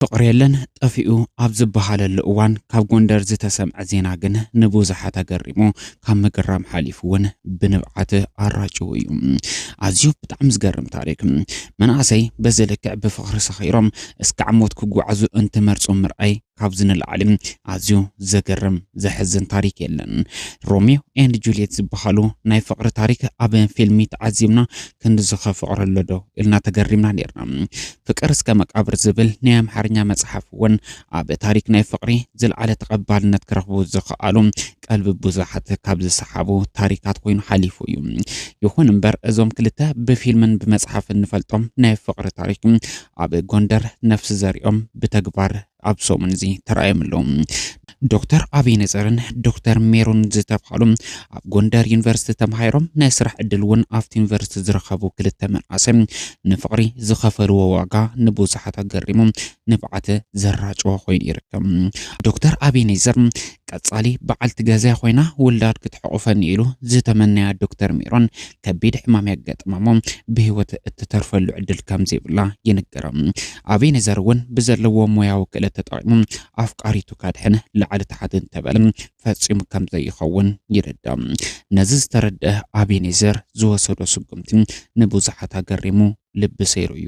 ፍቕሪ የለን ጠፊኡ ኣብ ዝበሃለሉ እዋን ካብ ጎንደር ዝተሰምዐ ዜና ግን ንብዙሓት ኣገሪሙ ካብ ምግራም ሓሊፉ እውን ብንብዓት ኣራጭው እዩ ኣዝዩ ብጣዕሚ ዝገርም ታሪክ መናእሰይ በዚ ልክዕ ብፍቕሪ ሰኺሮም እስካዕ ሞት ክጓዓዙ እንትመርፁ ምርኣይ ካብዚ ንላዕሊ ኣዝዩ ዘገርም ዘሕዝን ታሪክ የለን። ሮሚዮ ኤንድ ጁልየት ዝበሃሉ ናይ ፍቅሪ ታሪክ ኣብ ፊልሚ ተዓዚብና ክንድዚ ከፍቅሮ ኣሎ ዶ ኢልና ተገሪምና ኔርና። ፍቅር እስከ መቃብር ዝብል ናይ ኣምሓርኛ መጽሓፍ እውን ኣብ ታሪክ ናይ ፍቅሪ ዝልዓለ ተቐባልነት ክረኽቡ ዝኸኣሉ ቀልቢ ብዙሓት ካብ ዝሰሓቡ ታሪካት ኮይኑ ሓሊፉ እዩ። ይኹን እምበር እዞም ክልተ ብፊልምን ብመፅሓፍን ንፈልጦም ናይ ፍቕሪ ታሪክ ኣብ ጎንደር ነፍሲ ዘሪኦም ብተግባር ኣብ ሰሙን እዚ ተራእዮም ኣለዉ። ዶክተር ኣብይ ነዘርን ዶክተር ሜሮን ዝተብሃሉ ኣብ ጎንደር ዩኒቨርሲቲ ተምሃይሮም ናይ ስራሕ ዕድል እውን ኣብቲ ዩኒቨርሲቲ ዝረኸቡ ክልተ መንእሰይ ንፍቕሪ ዝኸፈልዎ ዋጋ ንብዙሓት ኣገሪሙ ንብዓት ዘራጨወ ኮይኑ ይርከብ። ዶክተር ኣብይ ነዘር ቀጻሊ በዓልቲ ገዛይ ኾይና ውላድ ክትሕቑፈኒ ኢሉ ዝተመነያ ዶክተር ሜሮን ከቢድ ሕማም የጋጥማሞ ብህይወት እትተርፈሉ ዕድል ከምዘይብላ ይንገራ። ኣቤኔዘር እውን ብዘለዎ ሞያዊ ክእለት ተጠቒሙ ኣፍቃሪቱ ካድሕን ላዕሊ ታሕቲ እንተበለ ፈጺሙ ከምዘይኸውን ይርዳእ። ነዚ ዝተረድአ ኣቤኔዘር ዝወሰዶ ስጉምቲ ንብዙሓት ኣገሪሙ ልቢ ሰይሩ እዩ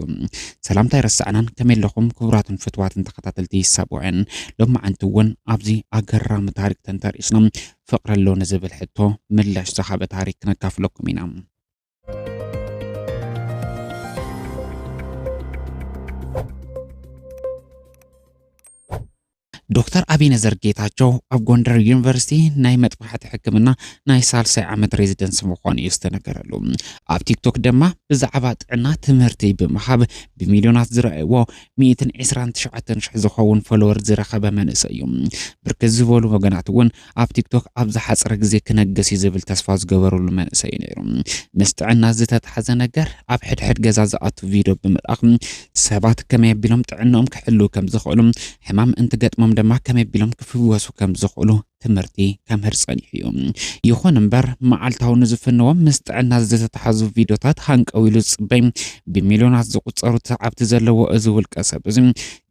ሰላምታ ኣይረሳዕናን ከመይ ኣለኹም ክቡራትን ፍትዋትን ተኸታተልቲ ሳብኦኤን ሎማዓንቲ እውን ኣብዚ ኣገራሚ ታሪክ ተንተርኢስና ፍቅሪ ኣሎ ንዝብል ሕቶ ምላሽ ዝሃበ ታሪክ ክነካፍለኩም ኢና ዶክተር ኣቢነዘር ጌታቸው ኣብ ጎንደር ዩኒቨርሲቲ ናይ መጥባሕቲ ሕክምና ናይ ሳልሳይ ዓመት ሬዚደንስ ምዃኑ እዩ ዝተነገረሉ። ኣብ ቲክቶክ ድማ ብዛዕባ ጥዕና ትምህርቲ ብምሃብ ብሚልዮናት ዝረኣይዎ 129 ሽሕ ዝኸውን ፎሎወር ዝረኸበ መንእሰይ እዩ። ብርክት ዝበሉ ወገናት እውን ኣብ ቲክቶክ ኣብ ዝሓጸረ ግዜ ክነግስ እዩ ዝብል ተስፋ ዝገበርሉ መንእሰይ እዩ ነይሩ። ምስ ጥዕና ዝተታሕዘ ነገር ኣብ ሕድሕድ ገዛ ዝኣቱ ቪድዮ ብምልኣኽ ሰባት ከመይ ኣቢሎም ጥዕንኦም ክሕልው ከም ዝኽእሉ፣ ሕማም እንትገጥሞም ድማ ከመይ ኣቢሎም ክፍወሱ ከም ዝኽእሉ ትምህርቲ ከምህር ጸኒሑ እዩ። ይኹን እምበር መዓልታዊ ንዝፍንዎም ምስ ጥዕና ዝተታሕዙ ቪድዮታት ሃንቀው ኢሉ ዝጽበይ ብሚልዮናት ዝቑጸሩ ሰዓብቲ ዘለዎ እዚ ውልቀ ሰብ እዚ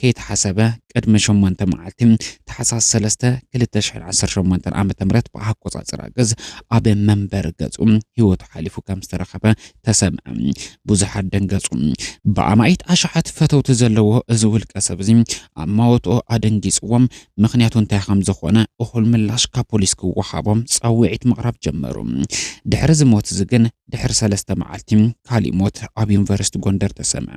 ከይተሓሰበ ቅድሚ ሸሞንተ መዓልቲ ታሕሳስ ሰለስተ ክልተ ሽሕን ዓሰርተ ሸሞንተን ዓመተ ምህረት ብኣቆጻጽራ ግዝ ኣብ መንበሪ ገጹ ህይወቱ ሓሊፉ ከም ዝተረኸበ ተሰምዐ። ብዙሓት ደንገጹ። ብኣማኢት ኣሽሓት ፈተውቲ ዘለዎ እዚ ውልቀ ሰብ እዚ ኣማወትኡ ኣደንጊጽዎም፣ ምኽንያቱ እንታይ ከም ዝኾነ እኹል ምላሽ ካብ ፖሊስ ክወሃቦም ጻውዒት ምቕራብ ጀመሩ። ድሕሪ እዚ ሞት እዚ ግን ድሕሪ ሰለስተ መዓልቲ ካሊእ ሞት ኣብ ዩኒቨርሲቲ ጎንደር ተሰምዐ።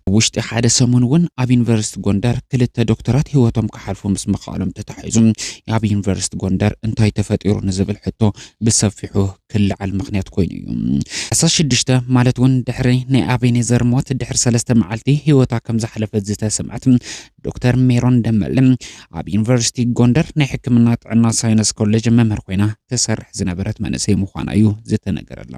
ኣብ ውሽጢ ሓደ ሰሙን እውን ኣብ ዩኒቨርሲቲ ጎንደር ክልተ ዶክተራት ህይወቶም ክሓልፉ ምስ ምኽኣሎም ተታሒዙ ኣብ ዩኒቨርሲቲ ጎንደር እንታይ ተፈጢሩ ንዝብል ሕቶ ብሰፊሑ ክለዓል ምኽንያት ኮይኑ እዩ። ዓሰርተ ሽዱሽተ ማለት እውን ድሕሪ ናይ ኣቤኔዘር ሞት ድሕሪ ሰለስተ መዓልቲ ህይወታ ከም ዝሓለፈት ዝተሰምዐት ዶክተር ሜሮን ደመለ ኣብ ዩኒቨርሲቲ ጎንደር ናይ ሕክምና ጥዕና ሳይንስ ኮሌጅ መምህር ኮይና ትሰርሕ ዝነበረት መንእሰይ ምዃና እዩ ዝተነገረላ።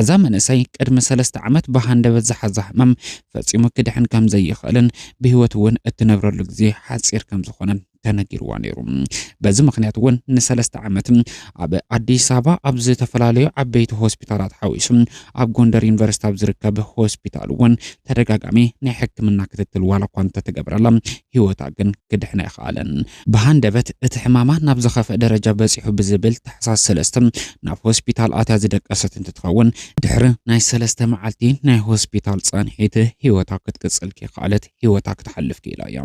እዛ መንእሰይ ቅድሚ ሰለስተ ዓመት ብሃንደበት ዝሓዛ ሕማም ፈጺሙ ክድሕን ከም ዘይኽእልን ብህይወት እውን እትነብረሉ ግዜ ሓጺር ከም ዝኾነን ተነጊርዋ ነይሩ። በዚ ምኽንያት እውን ንሰለስተ ዓመት ኣብ ኣዲስ ኣበባ ኣብ ዝተፈላለዩ ዓበይቲ ሆስፒታላት ሓዊሱ ኣብ ጎንደር ዩኒቨርሲቲ ኣብ ዝርከብ ሆስፒታል እውን ተደጋጋሚ ናይ ሕክምና ክትትል ዋላ እኳ እንተተገብረላ ህይወታ ግን ክድሕን ኣይኸኣለን። ብሃንደበት እቲ ሕማማ ናብ ዝኸፍአ ደረጃ በፂሑ ብዝብል ታሕሳስ ሰለስተ ናብ ሆስፒታል ኣትያ ዝደቀሰት እንትትኸውን፣ ድሕሪ ናይ ሰለስተ መዓልቲ ናይ ሆስፒታል ፃንሒት ህይወታ ክትቅፅል ከይኸኣለት ህይወታ ክትሓልፍ ክኢላ እያ።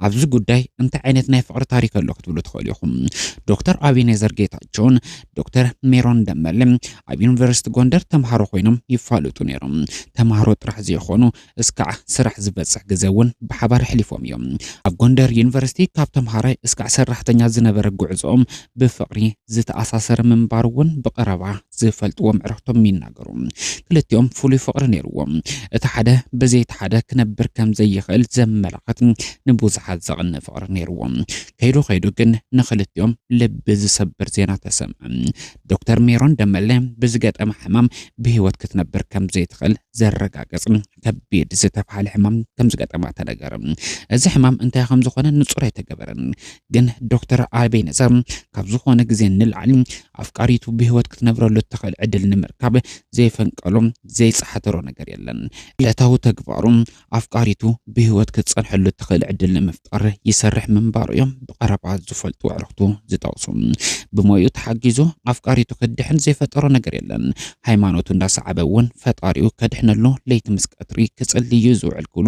ኣብዚ ጉዳይ እንታይ ዓይነት ናይ ፍቕሪ ታሪክ ኣሎ ክትብሉ ትኽእሉ ኢኹም። ዶክተር ኣቤኔዘር ጌታቸውን ዶክተር ሜሮን ደመለ ኣብ ዩኒቨርሲቲ ጎንደር ተምሃሮ ኮይኖም ይፋለጡ ነይሮም። ተምሃሮ ጥራሕ ዘይኾኑ እስካዕ ስራሕ ዝበፅሕ ግዘ እውን ብሓባር ኣሕሊፎም እዮም። ኣብ ጎንደር ዩኒቨርሲቲ ካብ ተምሃራይ እስካዕ ሰራሕተኛ ዝነበረ ጉዕዘኦም ብፍቕሪ ዝተኣሳሰረ ምንባሩ እውን ብቐረባ ዝፈልጥዎም ዕረኽቶም ይናገሩ። ክልቲኦም ፍሉይ ፍቕሪ ነይርዎም። እቲ ሓደ ብዘይ እቲ ሓደ ክነብር ከም ዘይኽእል ዘመላኽት ንብዙሓት ዘቕንእ ፍቕሪ ነይርዎም። ከይዱ ከይዱ ግን ንኽልቲኦም ልቢ ዝሰብር ዜና ተሰምዐ። ዶክተር ሜሮን ደመለ ብዝገጠማ ሕማም ብህይወት ክትነብር ከም ዘይትኽእል ዘረጋገጽ ከቢድ ዝተብሃለ ሕማም ከም ዝገጠማ ተነገረ። እዚ ሕማም እንታይ ከም ዝኾነ ንጹር ኣይተገበረን፣ ግን ዶክተር ኣቤነዘር ካብ ዝኾነ ግዜ ንላዕሊ ኣፍቃሪቱ ብህይወት ክትነብረሉ እትኽእል ዕድል ንምርካብ ዘይፈንቀሎ ዘይጸሓተሮ ነገር የለን። ዕለታዊ ተግባሩ ኣፍቃሪቱ ብህይወት ክትጸንሐሉ እትኽእል ዕድል ንምፍ ጥረ ይሰርሕ ምንባሩ እዮም ብቐረባ ዝፈልጡ ኣዕርኽቱ ዝጠቕሱ። ብሞይኡ ተሓጊዙ ኣፍቃሪቱ ክድሕን ዘይፈጠሮ ነገር የለን። ሃይማኖቱ እንዳሰዓበ እውን ፈጣሪኡ ከድሕነሉ ለይቲ ምስ ቀትሪ ክጽልይ እዩ ዝውዕል ክብሉ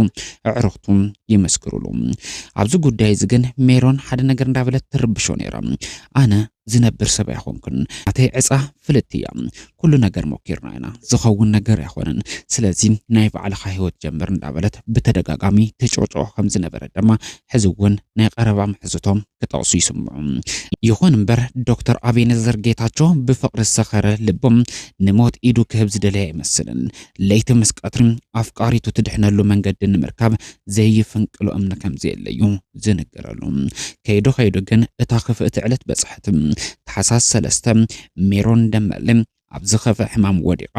ኣዕርኽቱ ይመስክሩሉ። ኣብዚ ጉዳይ እዚ ግን ሜሮን ሓደ ነገር እንዳበለት ትርብሾ ነይራ። ኣነ ዝነብር ሰብ ኣይኮንኩን ናተይ ዕፃ ፍልጥቲ እያ ኩሉ ነገር ሞኪርና ኢና ዝኸውን ነገር ኣይኾነን ስለዚ ናይ ባዕልኻ ሂወት ጀምር እንዳበለት ብተደጋጋሚ ትጭቕጭቖ ከም ዝነበረ ድማ ሕዚ እውን ናይ ቐረባ ምሕዝቶም ክጠቕሱ ይስምዑ። ይኹን እምበር ዶክተር ኣቤነዘር ጌታቸው ብፍቕሪ ዝሰኸረ ልቡ ንሞት ኢዱ ክህብ ዝደለየ ኣይመስልን። ለይቲ ምስ ቀትሪ ኣፍቃሪቱ ትድሕነሉ መንገዲ ንምርካብ ዘይፍንቅሎ እምኒ ከምዘየለዩ ዝንገረሉ ከይዶ ከይዶ ግን እታ ክፍእቲ ዕለት በጽሐት ታሕሳስ ሰለስተ ሜሮን ደመለ ኣብ ዝኸፈ ሕማም ወዲቓ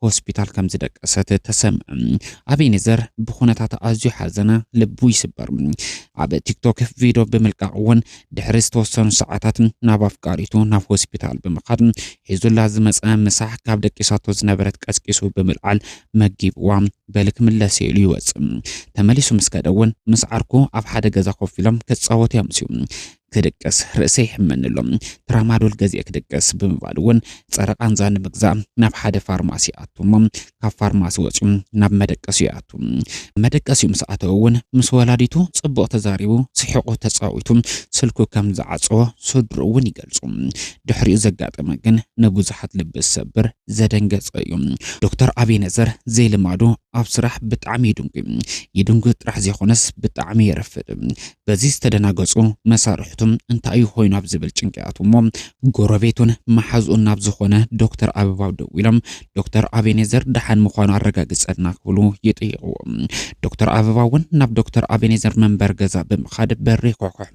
ሆስፒታል ከም ዝደቀሰት ተሰምዐ። ኣቤኔዘር ብኩነታት ኣዝዩ ሓዘነ፣ ልቡ ይስበር። ኣብ ቲክቶክ ቪድዮ ብምልቃቕ እውን ድሕሪ ዝተወሰኑ ሰዓታት ናብ ኣፍቃሪቱ ናብ ሆስፒታል ብምኻድ ሒዙላ ዝመፀ ምሳሕ ካብ ደቂሳቶ ዝነበረት ቀስቂሱ ብምልዓል መጊብዋ በሊ ክምለስ እየ ኢሉ ይወፅእ። ተመሊሱ ምስ ከደ እውን ምስ ዓርኩ ኣብ ሓደ ገዛ ኮፍ ኢሎም ክፃወቱ ያምስዩ። ክድቅስ ርእሰ ይሕመኒ ኣሎ ትራማዶል ገዚኤ ክድቅስ ብምባል እውን ፀረ ቃንዛ ንምግዛእ ናብ ሓደ ፋርማሲ ኣቱ እሞ ካብ ፋርማሲ ወፂኡ ናብ መደቀሲ ይኣቱ። መደቀሲኡ ምስ ኣተወ እውን ምስ ወላዲቱ ፅቡቕ ተዛሪቡ ስሒቑ ተፃዊቱ ስልኩ ከም ዝዓፀወ ስድሩ እውን ይገልፁ። ድሕሪኡ ዘጋጠመ ግን ንብዙሓት ልቢ ዝሰብር ዘደንገጸ እዩ። ዶክተር ኣቤነዘር ዘይልማዱ ኣብ ስራሕ ብጣዕሚ ይድንጉ። ይድንጉ ጥራሕ ዘይኮነስ ብጣዕሚ የረፍድ። በዚ ዝተደናገጹ መሳርሕቱም እንታይ እዩ ኮይኑ ኣብ ዝብል ጭንቅያቱ እሞ ጎረቤቱን መሓዝኡን ናብ ዝኾነ ዶክተር ኣበባው ደዊሎም ዶክተር ኣቤኔዘር ደሓን ምዃኑ ኣረጋግጸልና ክብሉ ይጥይቕዎ። ዶክተር ኣበባ እውን ናብ ዶክተር ኣቤኔዘር መንበር ገዛ ብምኻድ በሪ ኮሕኮሕ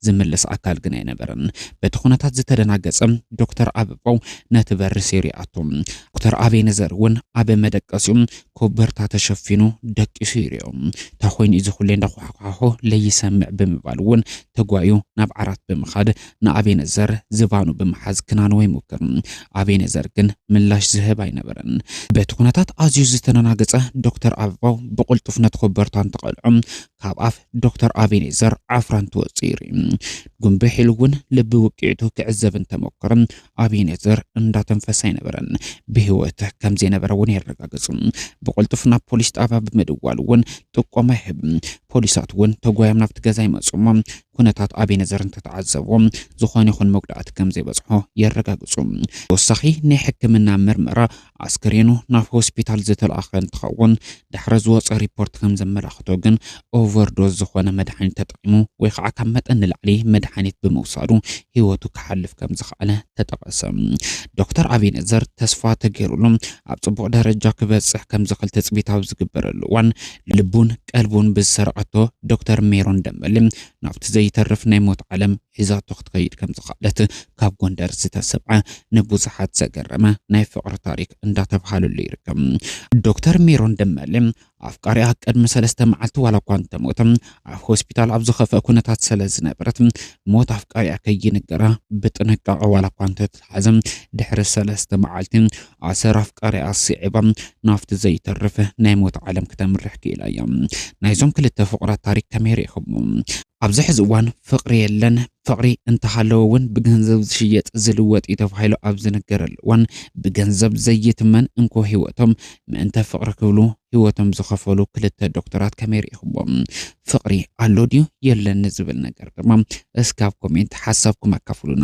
ዝምልስ ኣካል ግን ኣይነበረን። በቲ ኩነታት ዝተደናገጸ ዶክተር ኣበባው ነቲ በሪ ሴሩ ይኣቱ። ዶክተር ኣቤኔዘር እውን ኣብ መደቀሲኡ ኮበርታ ተሸፊኑ ደቂሱ ይርኦ። እንታ ኮይኑ እዚ ኩሌ እንዳኳሕኳሖ ለይሰምዕ ብምባል እውን ተጓዩ ናብ ዓራት ብምኻድ ንኣቤነዘር ዝባኑ ብምሓዝ ክናንዎ ይሙክር። ኣቤነዘር ግን ምላሽ ዝህብ ኣይነበረን። በቲ ኩነታት ኣዝዩ ዝተደናገጸ ዶክተር ኣበባው ብቕልጡፍ ነቲ ኮበርታ እንትቐልዖ ካብ ኣፍ ዶክተር ኣቤኔዘር ዓፍራ እንትወጽእ ይርኢ። ጉንብሕ ኢሉ እውን ልቢ ውቅዒቱ ክዕዘብ እንተመኮረ ኣቤኔዘር እንዳተንፈሰ ኣይነበረን። ብህይወት ከም ዘይነበረ እውን የረጋግጽ። ብቕልጡፍ ናብ ፖሊስ ጣብያ ብምድዋል እውን ጥቆማ ይህብ። ፖሊሳት እውን ተጓዮም ናብቲ ገዛ ይመጽሞ ኩነታት ኣቤነዘር እንተተዓዘብዎ ዝኾነ ይኹን መጉዳእቲ ከምዘይበጽሖ የረጋግጹ። ተወሳኺ ናይ ሕክምና ምርመራ ኣስከሬኑ ናብ ሆስፒታል ዝተላእኸ እንትኸውን ድሕሪ ዝወፀ ሪፖርት ከምዘመላኽቶ ግን ኦቨርዶዝ ዝኾነ መድሓኒት ተጠቂሙ ወይ ከዓ ካብ መጠን ንላዕሊ መድሓኒት ብምውሳዱ ህይወቱ ክሓልፍ ከምዝኸኣለ ተጠቐሰ። ዶክተር ኣቤነዘር ተስፋ ተገይሩሉ ኣብ ፅቡቕ ደረጃ ክበፅሕ ከምዝኽእል ትፅቢት ኣብ ዝግበረሉ እዋን ልቡን ቀልቡን ብዝሰርቀቶ ዶክተር ሜሮን ደመሌ ናብቲ ዘይተርፍ ናይ ሞት ዓለም ሒዛቶ ክትከይድ ከም ዝኸኣለት ካብ ጎንደር ዝተሰብዐ ንብዙሓት ዘገረመ ናይ ፍቕሪ ታሪክ እንዳተብሃለሉ ይርከብ። ዶክተር ሜሮን ደመሌ ኣፍቃሪኣ ቅድሚ ሰለስተ መዓልቲ ዋላ እኳ እንተሞተ ኣብ ሆስፒታል ኣብ ዝኸፍአ ኩነታት ስለዝነበረት ሞት ኣፍቃሪኣ ከይንገራ ብጥንቃቐ ዋላ እኳ እንተ ኣተሓሕዛ ድሕሪ ሰለስተ መዓልቲ ኣሰር ኣፍቃሪኣ ኣስዒባ ናብቲ ዘይተርፍ ናይ ሞት ዓለም ክተምርሕ ክኢላ እያ። ናይዞም ክልተ ፍቑራት ታሪክ ከመይ ርኢኹሞ? ኣብዚ ሕዚ እዋን ፍቕሪ የለን፣ ፍቕሪ እንተሃለወ እውን ብገንዘብ ዝሽየጥ ዝልወጥ እዩ ተባሂሉ ኣብ ዝንገረሉ እዋን ብገንዘብ ዘይትመን እንኮ ህይወቶም ምእንተ ፍቕሪ ክብሉ ህይወቶም ዝኸፈሉ ክልተ ዶክተራት ከመይ ርኢኹዎም? ፍቕሪ ኣሎ ድዩ የለን ንዝብል ነገር ድማ እስካብ ኮሜንት ሓሳብኩም ኣካፍሉና።